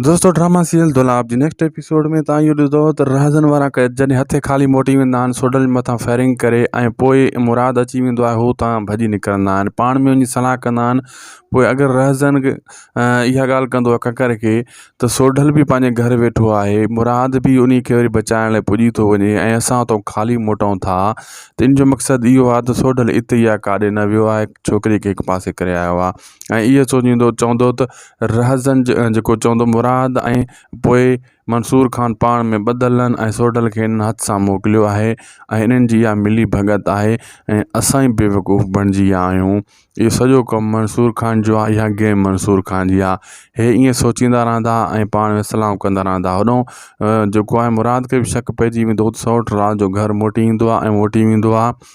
دوستو drama serial دولاب جي نيڪسٽ ايپيسوڊ ۾ تان اهو ڏسندو ته رهزن وارا قيد جڏهن هٿي خالي موٽي ويندا آهن سوڊل مٿان فائرنگ ڪري ۽ پوء مراد اچي ويندو آهي هو تان ڀڄي نڪرندا آهن پاڻ ۾ وڃي صلاح ڪندا آهن پوء اگر رهزن اها ڳالهه ڪندو آهي ڪڪر کي ته سوڊل به پنهنجي گهر ويٺو آهي مراد به ان کي وري بچائڻ لاء پڄي ٿو وڃي ۽ اسان اتو خالي موٽون ٿا ته ان جو مقصد اهو آهي ته سوڊل اتي يا ڪاڏي نه ويو آهي ڇوڪري کي هڪ پاسي ڪري آيو آهي ۽ اهو سوچيندو چوندو ته رهزن جيڪو چوندو مراد ۽ پوء منصور خان پاڻ ۾ ٻڌل ۽ سوڍل کي انهن هٿ سان موڪليو آهي ۽ انهن جي اها ملي ڀڳت آهي ۽ اسان ئي بيوقوف بڻجي ويا آهيون اهو سڄو ڪم منصور خان جو آهي اها گيم منصور خان جي آهي هي ائين سوچيندا رهندا ۽ پاڻ ۾ سلام ڪندا رهندا هوڏهون جيڪو آهي مراد کي به شڪ پئجي ويندو هو ته سئوٽ رات جو گهر موٽي ايندو آهي ۽ موٽي ويندو آهي